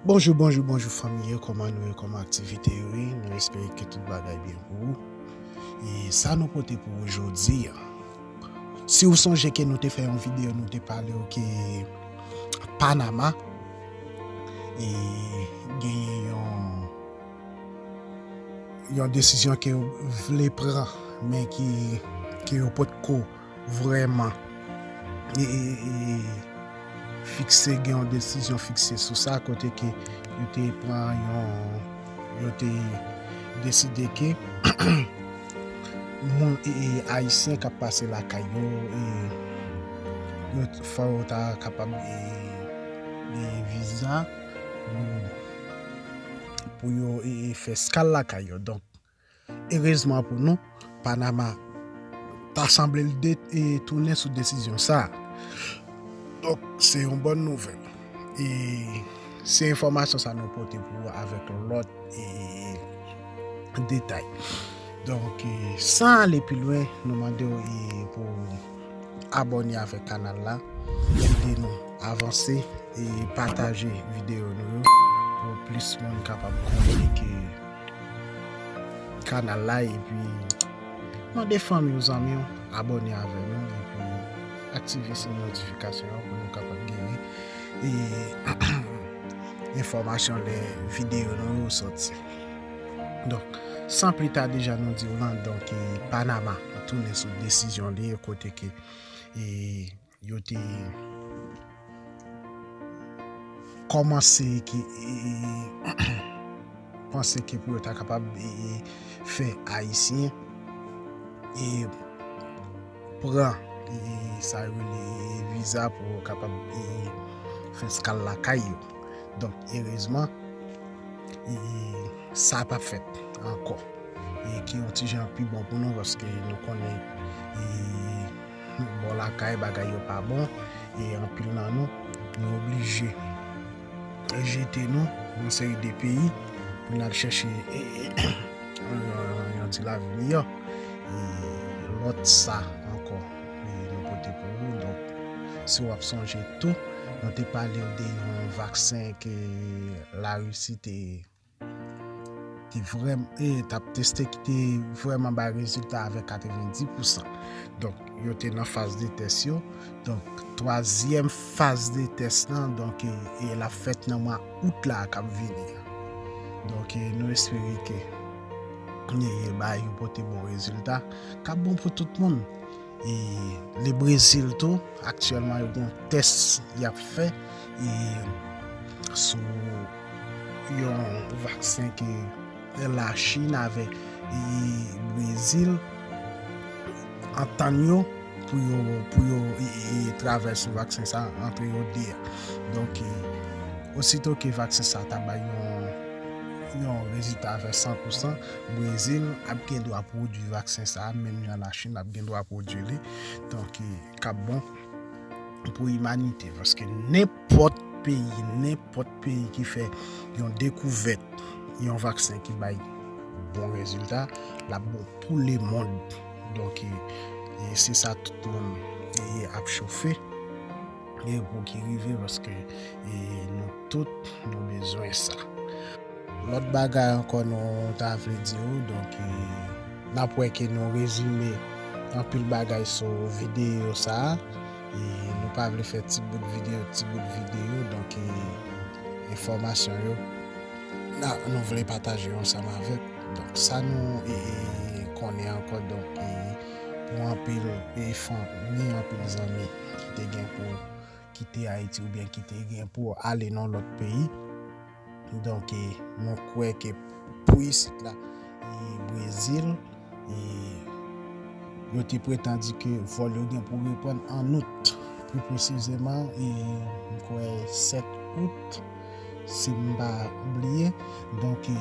Bonjou bonjou bonjou fanmi yo kòman nou ye kòman aktivite yo ye nou espere ke tout bagay byen pou ou e sa nou pote pou ou jodi a si ou sonje ke nou te fè yon videyo nou te pale ou ke Panama e genye yon yon desisyon ke ou vle pran men ki yo pot ko Vrèman fikse gen yon desizyon fikse sou sa kote ke yo te pran yon yo te deside ke moun e ayisyen kap pase la kay yo e yo fò yo ta kapab e e viza pou yo e fè skal la kay yo donk Erezman pou nou, Panama ta sanble l tounen sou desizyon sa a. Donk, se yon bòn nouvèl. E se enfòmasyon sa nou pote pou ou avèk lòt detay. Donk, san ale pi lwen, nou mande ou pou ou abòne avèk kanal la, ede nou avanse e pataje videyo nou pou plis moun kapab konnen ke. Kanal la epi mande fanmi w zanmi w abone avè nou epi aktive siy notifikasyon an pou nou kapab genyen enfòmasyon lè videyo nou yo soti donk san pli ta deja nou di w lan donk panama tounen sou desizyon li kote ke Yo te kòmanse ki panse ki pou yo ta kapab fè Ayisyen e pran sa yo li viza pou yo kapab fè skal lakay yo. Donk, erezman, sa pa fèt ankò. E ki yon ti jan pi bon pou nou paske nou konnen e... Bò lakay bagay yo pa bon e anpil nan nou nou oblije jete nou nan seri de peyi pou n al chèche yon ti lavi miyò. E lòt sa ankò nou pote pou nou. Donk, si w ap sonje tou, nou te pale w de yon vaksen ke Larisi te. te vrèman t ap teste ki te vrèman bay rezilta avèk 90 pousan. Donk, yo te nan faz de tès yo. Donk, twazyèm faz de tès lan, donk, e l ap fèt nan mwa out la k ap vini. Donk, e nou espere ke ni e ba yo pote bon rezilta. K ap bon pou tout moun. E le Brezil tou, aktyèlman yo gen yon tès y ap fè e sou. Yon vaksen ke la Chine avèk Brezil antann yo pou yo travay sou vaksen sa antre yo 2 a. Donk osito ke vaksen sa ta bay yon rezilta avè 100 pou 100, Brezil ap gen dwa pwodui vaksen sa menm jan la Chine ap gen dwa pwodui li. Donk kap bon pou imanite. Nenpòt peyi, nenpòt peyi ki fè yon dekouvèt, yon vaksen ki bay bon rezilta, l ap bon pou lemond. Donk, se sa tout moun ap chofe pou ki rive paske nou tout nou bezwen sa. Lòt bagay ankò nou ta vle di ou, donk n ap wè ke nou rezime anpil bagay sou videyo sa a. Nou pa vle fè ti bout video ti bout video donk enfòmasyon yo nou vle pataje yo ansanm avèk donk sa nou konnen ankò donk pou anpil fanmi anpil zanmi ki te gen pou kite Ayiti oubyen ki te gen pou ale nan lòt peyi. Donk e nou kwè ke pou isit la e Brezil e yo te pretandi ke vòl yo gen pou reprann an Out. Pi presizeman e m kwè 7 Out si m pa bliye. Donk e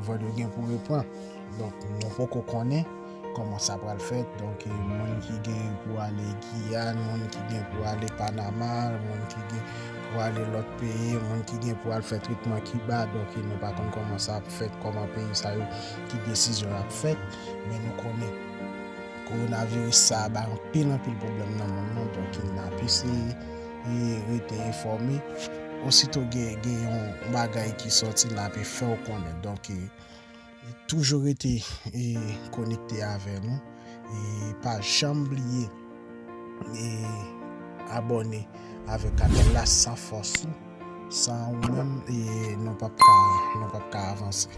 vòl yo gen pou repran. Donk nou poko konnen. Koman sa pral fèt donk moun ki gen pou ale Giyàn, moun ki gen pou ale Panama, moun ki gen pou ale lòt peyi, moun ki gen pou al fè tretman Kiba, donk nou pa konn koman sa ap fèt, koman peyi sa yo, ki desizyon y ap fèt, men nou konnen kowonaviris sa bay anpil anpil pwoblèm nan monn nan, donk n ap eseye rete enfòme, ositou gen yon bagay ki sòti n ape fè w konnen. Toujou rete konekte avè nou e pa janm bliye abòne avèk kanal la san fòs ou san ou menm nou pap ka avanse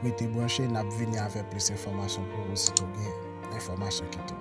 rete branche nap vini avèk plis enfòmasyon pou ou si tou gen enfòmasyon ki tou.